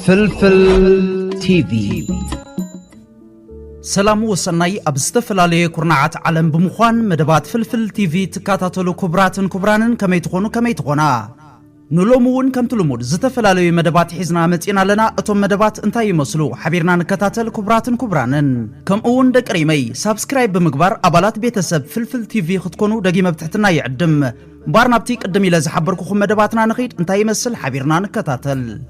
ፍልፍል ቲቪ ሰላም ወሰናይ ኣብ ዝተፈላለየ ኩርናዓት ዓለም ብምዃን መደባት ፍልፍል ቲቪ ትከታተሉ ክቡራትን ክቡራንን ከመይ ትኾኑ ከመይ ትኾና ንሎሚ እውን ከምቲ ልሙድ ዝተፈላለዩ መደባት ሒዝና መፂእና ኣለና። እቶም መደባት እንታይ ይመስሉ ሓቢርና ንከታተል ክቡራትን ክቡራንን። ከምኡ እውን ደቂ ሪመይ ሳብስክራይብ ብምግባር ኣባላት ቤተሰብ ፍልፍል ቲቪ ክትኮኑ ደጊመ ብትሕትና ይዕድም። እምበኣር ናብቲ ቅድም ኢለ ዝሓበርኩኹም መደባትና ንኺድ እንታይ ይመስል ሓቢርና ንከታተል።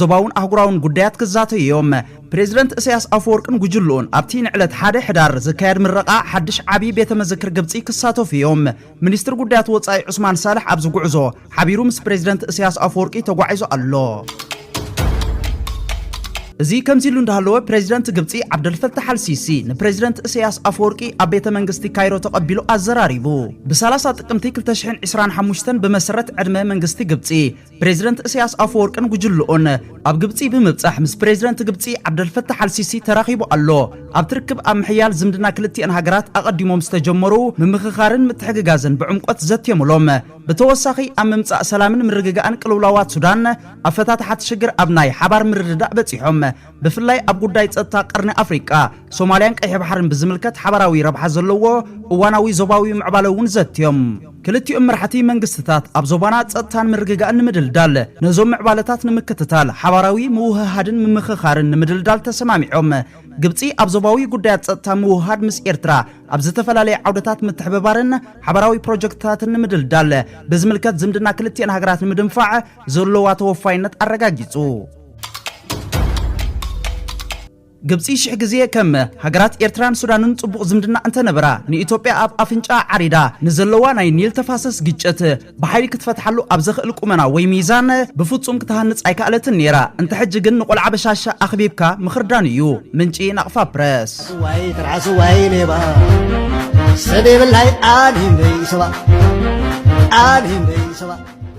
ዞባውን ኣህጉራውን ጉዳያት ክዛተዩ እዮም። ፕሬዚደንት እሰያስ ኣፈወርቅን ጉጅልኡን ኣብቲ ንዕለት ሓደ ሕዳር ዝካየድ ምረቓ ሓድሽ ዓብዪ ቤተ መዘክር ግብፂ ክሳተፉ እዮም። ሚኒስትር ጉዳያት ወፃኢ ዑስማን ሳልሕ ኣብዚ ጉዕዞ ሓቢሩ ምስ ፕሬዚደንት እሰያስ ኣፈወርቂ ተጓዒዙ ኣሎ። እዚ ከምዚሉ እንዳሃለወ ፕሬዚደንት ግብፂ ዓብደልፈታሕ ኣልሲሲ ንፕሬዚደንት እሰያስ ኣፈወርቂ ኣብ ቤተ መንግስቲ ካይሮ ተቐቢሉ ኣዘራሪቡ። ብ30 ጥቅምቲ 2025 ብመሰረት ዕድመ መንግስቲ ግብፂ ፕሬዚደንት እሰያስ ኣፈወርቅን ጉጅልኡን ኣብ ግብፂ ብምብፃሕ ምስ ፕሬዚደንት ግብፂ ዓብደልፈታሕ ኣልሲሲ ተራኺቡ ኣሎ። ኣብቲ ርክብ ኣብ ምሕያል ዝምድና ክልቲኤን ሃገራት ኣቐዲሞም ዝተጀመሩ ምምኽኻርን ምትሕግጋዝን ብዕምቆት ዘትዮምሎም። ብተወሳኺ ኣብ ምምፃእ ሰላምን ምርግጋእን ቅልውላዋት ሱዳን ኣፈታትሓ እቲ ሽግር ኣብ ናይ ሓባር ምርድዳእ በፂሖም። ብፍላይ ኣብ ጉዳይ ጸጥታ ቀርኒ ኣፍሪቃ፣ ሶማልያን ቀይሕ ባሕርን ብዝምልከት ሓባራዊ ረብሓ ዘለዎ እዋናዊ ዞባዊ ምዕባለ እውን ዘትዮም። ክልቲኦም መራሕቲ መንግስትታት ኣብ ዞባና ጸጥታን ምርግጋእን ንምድልዳል ነዞም ምዕባለታት ንምክትታል ሓባራዊ ምውህሃድን ምምኽኻርን ንምድልዳል ተሰማሚዖም። ግብጺ ኣብ ዞባዊ ጉዳያት ጸጥታ ምውህሃድ ምስ ኤርትራ ኣብ ዝተፈላለየ ዓውደታት ምትሕብባርን ሓባራዊ ፕሮጀክትታትን ንምድልዳል ብዝምልከት ዝምድና ክልቲኤን ሃገራት ንምድንፋዕ ዘለዋ ተወፋይነት ኣረጋጊጹ። ግብፂ ሽሕ ግዜ ከም ሃገራት ኤርትራን ሱዳንን ፅቡቕ ዝምድና እንተነበራ ንኢትዮጵያ ኣብ ኣፍንጫኣ ዓሪዳ ንዘለዋ ናይ ኒል ተፋሰስ ግጭት ብሓይሊ ክትፈትሓሉ ኣብ ዘኽእል ቁመና ወይ ሚዛን ብፍፁም ክትሃንፅ ኣይከኣለትን ነይራ። እንተ ሕጂ ግን ንቆልዓ በሻሻ ኣኽቢብካ ምኽርዳን እዩ። ምንጪ ናቕፋ ፕረስ። ዋይ ትርዓስ ዋይ ሌባ ሰብ የብላይ ኣሊም ደይ ሰባ ኣሊም ደይ ሰባ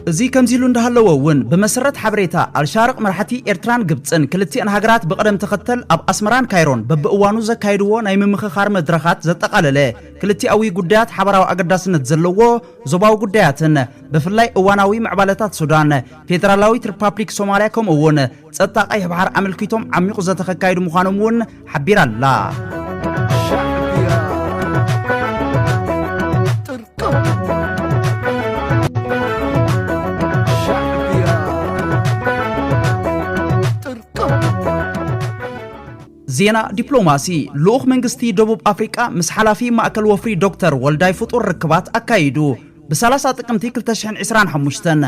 እዚ ከምዚሉ እንዳሃለወ እውን ብመሰረት ሓበሬታ ኣልሻርቕ መራሕቲ ኤርትራን ግብጽን ክልቲኤን ሃገራት ብቕደም ተኸተል ኣብ ኣስመራን ካይሮን በብእዋኑ ዘካይድዎ ናይ ምምኽኻር መድረኻት ዘጠቓለለ ክልቲኣዊ ጉዳያት ሓባራዊ ኣገዳስነት ዘለዎ ዞባዊ ጉዳያትን ብፍላይ እዋናዊ ምዕባለታት ሱዳን፣ ፌደራላዊት ሪፓፕሊክ ሶማልያ ከምኡ እውን ጸጥታ ቀይሕ ባሕር ኣመልኪቶም ዓሚቑ ዘተ ከካይዱ ምዃኖም እውን ሓቢራ ኣላ። ዜና ዲፕሎማሲ ልኡኽ መንግስቲ ደቡብ ኣፍሪቃ ምስ ሓላፊ ማእከል ወፍሪ ዶክተር ወልዳይ ፍጡር ርክባት ኣካይዱ ብ30 ጥቅምቲ 2025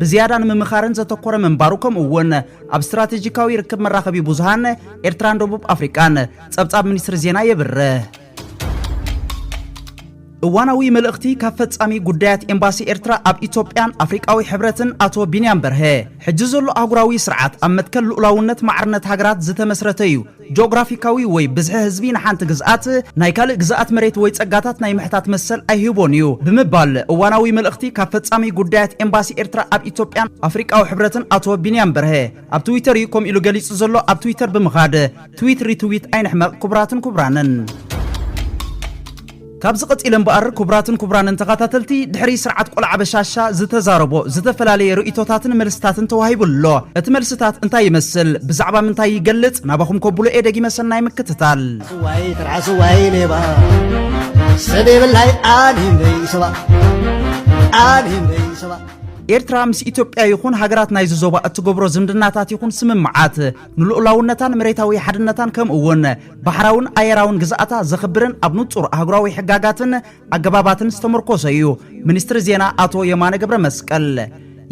ብዝያዳ ንምምኻርን ዘተኮረ ምንባሩ ከምኡ እውን ኣብ ስትራቴጂካዊ ርክብ መራኸቢ ብዙሃን ኤርትራን ደቡብ ኣፍሪቃን ጸብጻብ ሚኒስትሪ ዜና የብርህ። እዋናዊ መልእኽቲ ካብ ፈጻሚ ጉዳያት ኤምባሲ ኤርትራ ኣብ ኢትዮጵያን ኣፍሪቃዊ ሕብረትን ኣቶ ቢንያም በርሀ ሕጂ ዘሎ ኣህጉራዊ ስርዓት ኣብ መትከል ልኡላውነት ማዕርነት ሃገራት ዝተመስረተ እዩ ጆግራፊካዊ ወይ ብዝሒ ህዝቢ ንሓንቲ ግዝኣት ናይ ካልእ ግዝኣት መሬት ወይ ጸጋታት ናይ ምሕታት መሰል ኣይህቦን እዩ ብምባል እዋናዊ መልእኽቲ ካብ ፈጻሚ ጉዳያት ኤምባሲ ኤርትራ ኣብ ኢትዮጵያን ኣፍሪቃዊ ሕብረትን ኣቶ ቢንያም በርሀ ኣብ ትዊተር እዩ ከምኡ ኢሉ ገሊጹ ዘሎ ኣብ ትዊተር ብምኻድ ትዊት ሪትዊት ኣይንሕመቕ ክቡራትን ክቡራንን ካብዚ ቀጺለ እምበኣር ኩቡራትን ኩቡራንን ተኻታተልቲ ድሕሪ ስርዓት ቆልዓ በሻሻ ዝተዛረቦ ዝተፈላለየ ርእይቶታትን መልስታትን ተዋሂቡ ኣሎ እቲ መልስታት እንታይ ይመስል ብዛዕባ ምንታይ ይገልጽ ናባኹም ከብሎ እየ ደጊመ ሰናይ ምክትታል። ስዋይ ትርዓ ስዋይ ሌባ ሰብ የብላይ ኣኒም ደይሰባ ኣኒም ደይሰባ ኤርትራ ምስ ኢትዮጵያ ይኹን ሃገራት ናይዚ ዞባ እትገብሮ ዝምድናታት ይኹን ስምምዓት ንልኡላውነታን መሬታዊ ሓድነታን ከምኡ እውን ባሕራውን ኣየራውን ግዝኣታ ዘኽብርን ኣብ ንጹር ኣህጉራዊ ሕጋጋትን ኣገባባትን ዝተመርኮሰ እዩ። ሚኒስትሪ ዜና ኣቶ የማነ ገብረ መስቀል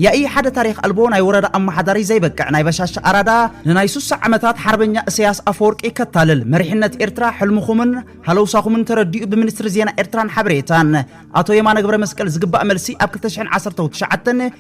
ያኢ ሓደ ታሪኽ ኣልቦ ናይ ወረዳ ኣመሓዳሪ ዘይበቅዕ ናይ በሻሻ ኣራዳ ንናይ ሱሳ ዓመታት ሓርበኛ እሰያስ ኣፈወርቂ ከታልል መሪሕነት ኤርትራ ሕልምኹምን ሃለውሳኹምን ተረዲኡ ብሚኒስትሪ ዜና ኤርትራን ሓበሬታን ኣቶ የማነ ገብረመስቀል ዝግባእ መልሲ ኣብ ክልተ ሽሕን ዓሰርተው ትሽዓተን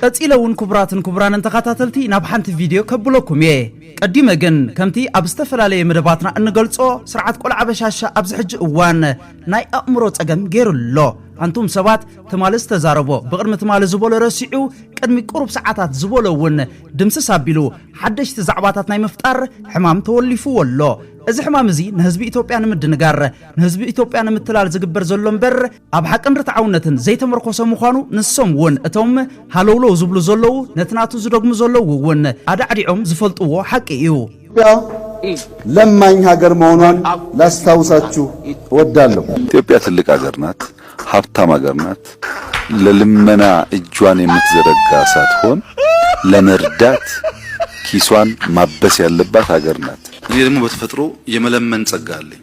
ቀጺለ ውን ኩቡራትን ኩቡራንን ተኻታተልቲ ናብ ሓንቲ ቪድዮ ከብሎኩም እየ ቀዲመ ግን ከምቲ ኣብ ዝተፈላለየ መደባትና እንገልጾ ስርዓት ቆልዓ በሻሻ ኣብዚ ሕጂ እዋን ናይ ኣእምሮ ጸገም ጌሩ ኣሎ ኣንቱም ሰባት ትማሊ ዝተዛረቦ ብቅድሚ ትማሊ ዝበሎ ረሲዑ ቅድሚ ቁሩብ ሰዓታት ዝበሎ ውን ድምስስ ኣቢሉ ሓደሽቲ ዛዕባታት ናይ ምፍጣር ሕማም ተወሊፍዎ ኣሎ እዚ ሕማም እዚ ንህዝቢ ኢትዮጵያ ንምድንጋር ንህዝቢ ኢትዮጵያ ንምትላል ዝግበር ዘሎ እምበር ኣብ ሓቅን ርትዓውነትን ዘይተመርኮሰ ምዃኑ ንሶም እውን እቶም ሃለውለው ዝብሉ ዘለዉ ነቲ ናቱ ዝደግሙ ዘለዉ እውን ኣዳዕዲዖም ዝፈልጥዎ ሓቂ እዩ። ኢትዮጵያ ለማኝ ሀገር መሆኗን ላስታውሳችሁ እወዳለሁ። ኢትዮጵያ ትልቅ ሀገር ናት ሀብታም ሀገር ናት ለልመና እጇን የምትዘረጋ ሳትሆን ለመርዳት ኪሷን ማበስ ያለባት ሀገር ናት። እኔ ደግሞ በተፈጥሮ የመለመን ጸጋ አለኝ።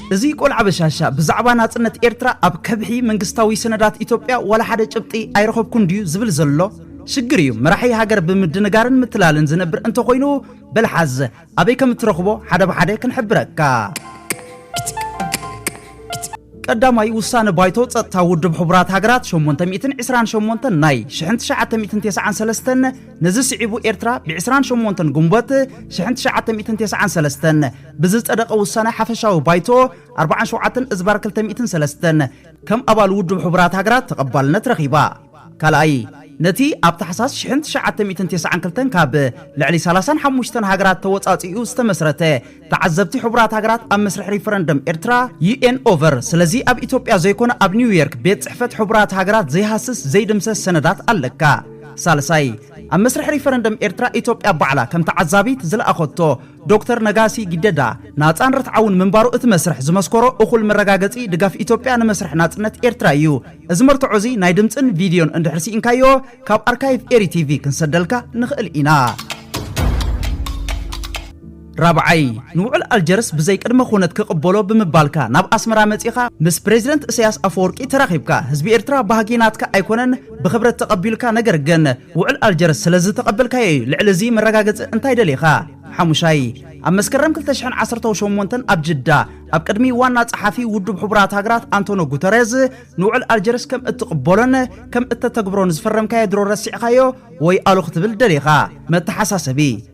እዚ ቆልዓ በሻሻ ብዛዕባ ናጽነት ኤርትራ ኣብ ከብሒ መንግስታዊ ሰነዳት ኢትዮጵያ ዋላ ሓደ ጭብጢ ኣይረኸብኩን ድዩ ዝብል ዘሎ? ሽግር እዩ መራሒ ሃገር ብምድንጋርን ምትላልን ዝነብር እንተኾይኑ በል ሓዝ ኣበይ ከም እትረኽቦ ሓደ ብሓደ ክንሕብረካ። ቀዳማይ ውሳነ ባይቶ ጸጥታ ውድብ ሕቡራት ሃገራት ሸሞንተ ሚእትን ዕስራን ሸሞንተን ናይ ሽሕን ትሽዓተ ሚእትን ቴስዓን ሰለስተን ነዚ ስዒቡ ኤርትራ ብዕስራን ሸሞንተን ጉንቦት ሽሕን ትሽዓተ ሚእትን ቴስዓን ሰለስተን ብዝጸደቐ ውሳነ ሓፈሻዊ ባይቶ ኣርብዓን ሸውዓተን እዝባር ክልተ ሚእትን ሰለስተን ከም ኣባል ውድብ ሕቡራት ሃገራት ተቐባልነት ረኺባ። ካልኣይ፣ ነቲ ኣብ ታሕሳስ ሽሕን ትሽዓተ ሚእትን ቴስዓን ክልተን ካብ ልዕሊ ሰላሳን ሓሙሽተን ሃገራት ተወጻጺኡ ዝተመስረተ ተዓዘብቲ ሕቡራት ሃገራት ኣብ መስርሕ ሪፈረንደም ኤርትራ፣ UN Over፣ ስለዚ ኣብ ኢትዮጵያ ዘይኮነ ኣብ ኒውዮርክ ቤት ጽሕፈት ሕቡራት ሃገራት ዘይሃስስ ዘይድምሰስ ሰነዳት ኣለካ። ሳልሳይ፣ ኣብ መስርሕ ሪፈረንደም ኤርትራ ኢትዮጵያ ባዕላ ከም ተዓዛቢት ዝለኣኸቶ ዶክተር ነጋሲ ጊደዳ ናጻን ርትዓውን ምንባሩ እቲ መስርሕ ዝመስከሮ እኹል መረጋገጺ ድጋፍ ኢትዮጵያ ንመስርሕ ናጽነት ኤርትራ ኢዩ። እዚ መርትዖ እዚ ናይ ድምጽን ቪድዮን እንድሕር ሲኢንካዮ ካብ ኣርካይቭ ኤሪ ቲቪ ክንሰደልካ ንኽእል ኢና። ራብዓይ፣ ንውዕል ኣልጀርስ ብዘይ ቅድመ ኹነት ክቕበሎ ብምባልካ ናብ ኣስመራ መጺኻ ምስ ፕረዚደንት እሰያስ ኣፈወርቂ ተራኺብካ ህዝቢ ኤርትራ ባህጊ ናትካ ኣይኮነን ብኽብረት ተቐቢሉካ ነገር ግን ውዕል ኣልጀርስ ስለዝተቐበልካዮ እዩ። ልዕሊ እዚ መረጋገጺ እንታይ ደሊኻ? ሓሙሻይ፣ ኣብ መስከረም ክልተ ሽሕን ዓሰርተው ሸሞንተን ኣብ ጅዳ ኣብ ቅድሚ ዋና ጸሓፊ ውዱብ ሕቡራት ሃገራት ኣንቶኖ ጉተሬዝ ንውዕል ኣልጀርስ ከም እትቕበሎን ከም እተተግብሮን ዝፈረምካዮ ድሮ ረሲዕካዮ ወይ ኣሉ ክትብል ደሊኻ? መተሓሳሰቢ።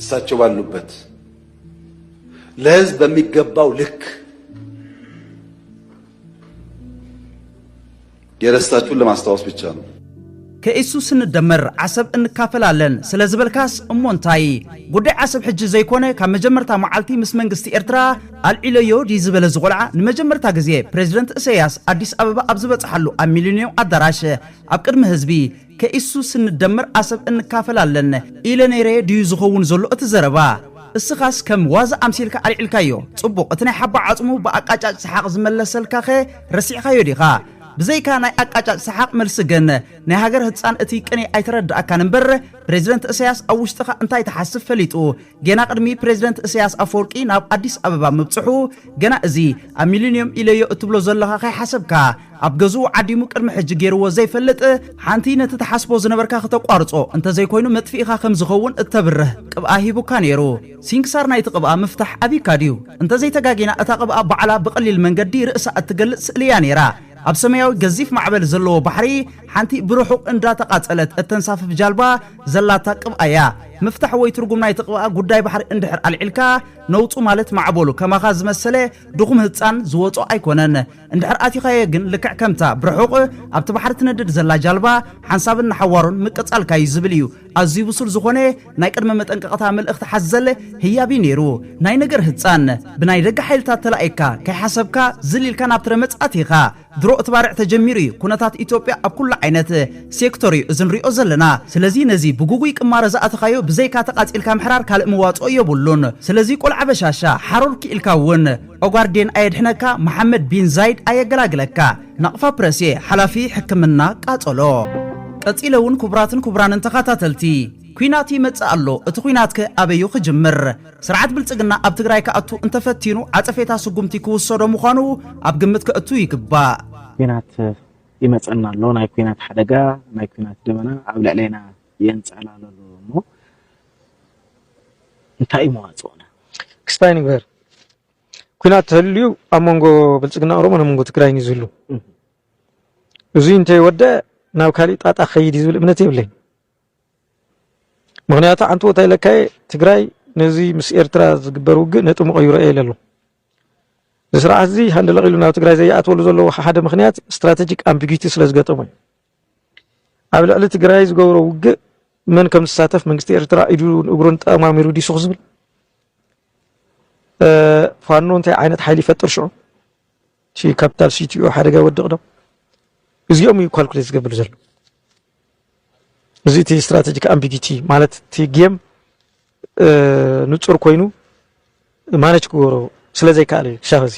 እሳቸው ባሉበት ለህዝብ በሚገባው ልክ የረሳችሁን ለማስታወስ ብቻ ነው። ከኢሱ ስንደመር ዓሰብ እንካፈላለን ስለ ዝበልካስ እሞ እንታይ ጉዳይ ዓሰብ ሕጂ ዘይኮነ ካብ መጀመርታ መዓልቲ ምስ መንግስቲ ኤርትራ ኣልዒለዮ ድዩ ዝበለ እዚ ቆልዓ ንመጀመርታ ግዜ ፕሬዚደንት እሰያስ ኣዲስ ኣበባ ኣብ ዝበጽሓሉ ኣብ ሚሊንዮ ኣዳራሽ ኣብ ቅድሚ ህዝቢ ከኢሱ ስንደመር ኣሰብ እንካፈል ኣለነ ኢለ ነይረ ድዩ ዝኸውን ዘሎ እቲ ዘረባ? እስኻስ ከም ዋዛ ኣምሲልካ ኣልዒልካዮ። ጽቡቕ እቲ ናይ ሓባ ዓጽሙ ብኣቃጫጭ ሰሓቕ ዝመለሰልካኸ ረሲዕኻዮ ዲኻ? ብዘይካ ናይ ኣቃጫጭ ሰሓቕ መልሲ ግን ናይ ሃገር ህጻን እቲ ቅኔ ኣይተረደኣካን እምበር ፕረዚደንት እሰያስ ኣብ ውሽጥኻ እንታይ ትሓስብ ፈሊጡ ጌና ቅድሚ ፕረዚደንት እሰያስ ኣፈወርቂ ናብ ኣዲስ ኣበባ ምብጽሑ ገና እዚ ኣብ ሚሊንዮም ኢለዮ እትብሎ ዘሎኻ ከይሓሰብካ ኣብ ገዝኡ ዓዲሙ ቅድሚ ሕጂ ጌርዎ ዘይፈልጥ ሓንቲ ነቲ ትሓስቦ ዝነበርካ ክተቋርጾ እንተ ዘይኮይኑ መጥፊኢኻ ከም ዝኸውን እተብርህ ቅብኣ ሂቡካ ነይሩ። ሲንክሳር ናይቲ ቅብኣ ምፍታሕ ኣብዩካ ድዩ? እንተ ዘይተጋጊና እታ ቅብኣ ባዕላ ብቐሊል መንገዲ ርእሳ እትገልጽ ስእሊ እያ ነይራ። ኣብ ሰመያዊ ገዚፍ ማዕበል ዘለዎ ባሕሪ ሓንቲ ብርሑቕ እንዳተቓጸለት እተንሳፍፍ ጃልባ፣ ዘላታ ቅብኣ እያ ምፍታሕ ወይ ትርጉም ናይቲ ቅብኣ ጉዳይ ባሕሪ እንድሕር ኣልዒልካ ነውጹ ማለት ማዕበሉ ከማኻ ዝመሰለ ድኹም ህጻን ዝወጾ ኣይኮነን እንድሕር ኣቲኻዮ ግን ልክዕ ከምታ ብርሑቕ ኣብቲ ባሕሪ ትነድድ ዘላ ጃልባ ሓንሳብን ንሓዋሩን ምቅጻልካ እዩ ዝብል እዩ ኣዝዩ ብሱል ዝኾነ ናይ ቅድመ መጠንቀቕታ መልእኽቲ ሓዘል ህያብ እዩ ነይሩ ናይ ነገር ህጻን ብናይ ደገ ሓይልታት ተላኢካ ከይሓሰብካ ዝል ኢልካ ናብ ትረ መጽ ኣቲኻ ድሮ እቲ ባርዕ ተጀሚሩ እዩ ኩነታት ኢትዮጵያ ኣብ ኩሉ ዓይነት ሴክቶር እዩ እዚ ንሪኦ ዘለና ስለዚ ነዚ ብጉጉይ ቅማረ ዝኣተኻዮ ብዘይካ ተቃጺልካ ምሕራር ካልእ መዋጽኦ የቡሉን ስለዚ ቆልዓ በሻሻ ሓሮር ኪኢልካ እውን ኦጋርዴን ኣየድሕነካ መሓመድ ቢን ዛይድ ኣየገላግለካ ናቅፋ ፕረስ እየ ሓላፊ ሕክምና ቃጸሎ ቀጺለ እውን ኩቡራትን ኩቡራንን ተኻታተልቲ ኩናት ይመጽእ ኣሎ እቲ ኩናት ከ ኣበዩ ክጅምር ስርዓት ብልፅግና ኣብ ትግራይ ክኣቱ እንተፈቲኑ ዓፀፌታ ስጉምቲ ክውሰዶ ምዃኑ ኣብ ግምት ከእቱ ይግባእ። ኲናት ይመጸና ኣሎ፣ ናይ ኲናት ሓደጋ፣ ናይ ኲናት ደበና ኣብ ልዕሌና የንጸላሉ ኣሎ እሞ እንታይ እዩ መዋጽኦና? ክስታይ ንግበር፣ ኲናት ተህልዩ ኣብ መንጎ ብልጽግና ኦሮሞን ኣብ መንጎ ትግራይን እዩ ዝህሉ። እዙይ እንተይወደእ ናብ ካሊእ ጣጣ ክኸይድ እዩ ዝብል እምነት የብለይን። ምክንያቱ ሓንቲ ቦታ ኢለካየ ትግራይ ነዚ ምስ ኤርትራ ዝግበር ውግእ ነጥሙ ቀይሮ እየ ኢለ ኣሎ እዚ ስርዓት እዚ ሃንደለቕ ኢሉ ናብ ትግራይ ዘይኣትወሉ ዘለዎ ሓደ ምክንያት ስትራቴጂክ ኣምቢጊቲ ስለ ዝገጠሞ እዩ ኣብ ልዕሊ ትግራይ ዝገብሮ ውግእ መን ከም ዝሳተፍ መንግስቲ ኤርትራ ኢዱን እግሩን ጠማሚሩ ዲሱ ክዝብል ፋኖ እንታይ ዓይነት ሓይሊ ይፈጥር ሽዑ እቲ ካፒታል ሲቲኦ ሓደጋ ይወድቕ ዶ እዚኦም እዩ ኳልኩሌት ዝገብር ዘሎ እዚ እቲ ስትራቴጂክ ኣምቢጊቲ ማለት እቲ ጌም ንጹር ኮይኑ ማነች ክገብሮ ስለ ዘይከኣለ እዩ ክሻብ እዚ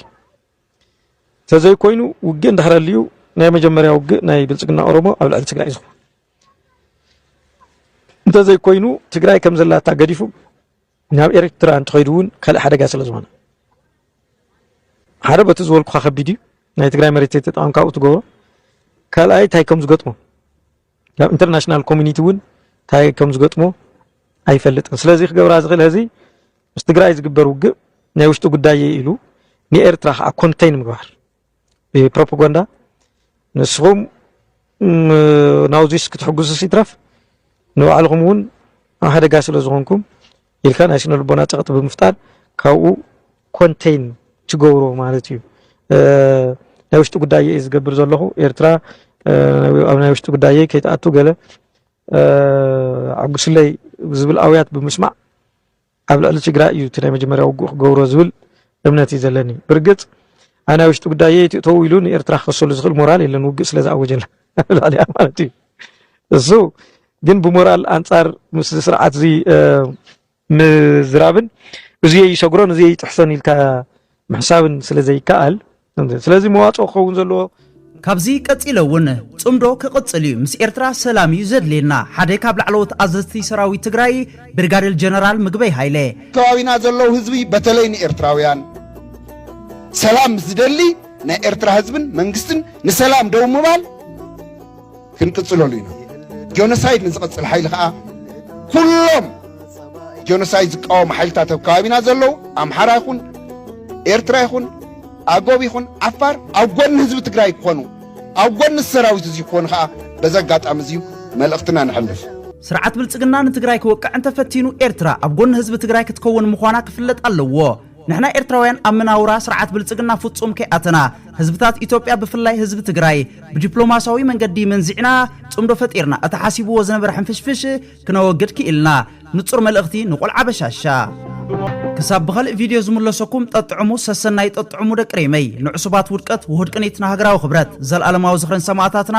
ተዘይኮይኑ ውግእ እንድሕር ኣልዩ ናይ መጀመርያ ውግእ ናይ ብልፅግና ኦሮሞ ኣብ ልዕሊ ትግራይ እዩ ዝኸውን እንተዘይኮይኑ ትግራይ ከም ዘላታ ገዲፉ ናብ ኤርትራ እንትኸይዱ እውን ካልእ ሓደጋ ስለ ዝኾነ ሓደ በቲ ዝበልኩኻ ከቢድ እዩ ናይ ትግራይ መሬት ተጠቐምካ ኣብኡ ትገብሮ ካልኣይ እንታይ ከም ዝገጥሞ ናብ ኢንተርናሽናል ኮሚኒቲ እውን እንታይ ከም ዝገጥሞ ኣይፈልጥን ስለዚ ክገብራ ዝኽእል ህዚ ምስ ትግራይ ዝግበር ውግእ ናይ ውሽጢ ጉዳይ ኢሉ ንኤርትራ ከዓ ኮንተይን ምግባር ብፕሮፓጋንዳ ንስኹም ናብዚስ ክትሕግዙስ ይትረፍ ንባዕልኹም እውን ኣብ ሓደጋ ስለ ዝኾንኩም ኢልካ ናይ ስነ ልቦና ፀቕጢ ብምፍጣር ካብኡ ኮንቴይን ትገብሮ ማለት እዩ ናይ ውሽጢ ጉዳይ እዩ ዝገብር ዘለኹ ኤርትራ ኣብ ናይ ውሽጢ ጉዳየይ ከይትኣቱ ገለ ዓጉስለይ ዝብል ኣውያት ብምስማዕ ኣብ ልዕሊ ትግራይ እዩ እቲ ናይ መጀመርያ ውግእ ክገብሮ ዝብል እምነት እዩ ዘለኒ። ብርግጽ ኣብ ናይ ውሽጢ ጉዳይ የትእተው ኢሉ ንኤርትራ ክኸሰሉ ዝኽእል ሞራል የለን ውግእ ስለ ዝኣወጀላ ልዕሊያ ማለት እዩ። እሱ ግን ብሞራል ኣንጻር ምስ ስርዓት እዚ ምዝራብን እዙየ ይሰግሮን እዙየ ይጥሕሰን ኢልካ ምሕሳብን ስለ ዘይከኣል ስለዚ መዋጽኦ ክኸውን ዘለዎ ካብዚ ቀጺለ እውን ጽምዶ ክቕጽል እዩ፣ ምስ ኤርትራ ሰላም እዩ ዘድልየና፣ ሓደ ካብ ላዕለዎት ኣዘዝቲ ሰራዊት ትግራይ ብርጋዴር ጀነራል ምግበይ ሃይለ። ኣብ ከባቢና ዘለዉ ህዝቢ በተለይ ንኤርትራውያን ሰላም ምስ ዝደሊ ናይ ኤርትራ ህዝብን መንግስትን ንሰላም ደው ምባል፣ ክንቅጽለሉ ኢና። ጆኖሳይድ ንዝቐጽል ሓይሊ ከኣ ኩሎም ጆኖሳይድ ዝቃወሙ ሓይልታት ኣብ ከባቢና ዘለዉ ኣምሓራ ይኹን ኤርትራ ይኹን ኣጎብ ይኹን ዓፋር ኣብ ጎኒ ህዝቢ ትግራይ ክኾኑ ኣብ ጎኒ ሰራዊት እዚ ክኾኑ ከዓ በዚ ኣጋጣሚ እዚዩ መልእኽትና ንሕልፍ። ስርዓት ብልጽግና ንትግራይ ክወቅዕ እንተፈቲኑ ኤርትራ ኣብ ጎኒ ህዝቢ ትግራይ ክትከውን ምዃና ክፍለጥ ኣለዎ። ንሕና ኤርትራውያን ኣብ መናውራ ስርዓት ብልጽግና ፍጹም ከይኣተና፣ ህዝብታት ኢትዮጵያ ብፍላይ ህዝቢ ትግራይ ብዲፕሎማስያዊ መንገዲ መንዚዕና ጽምዶ ፈጢርና እቲ ሓሲብዎ ዝነበረ ሕንፍሽፍሽ ክነወግድ ክኢልና። ንጹር መልእኽቲ ንቆልዓ በሻሻ። ክሳብ ብኸልእ ቪድዮ ዝምለሰኩም ጠጥዑሙ ሰሰናዩ ጠጥዑሙ ደቂ ሪመይ ንዕሱባት ውድቀት ውሁድ ቅኒት ንሃገራዊ ክብረት ዘልኣለማዊ ዝኽሪ ንሰማእታትና።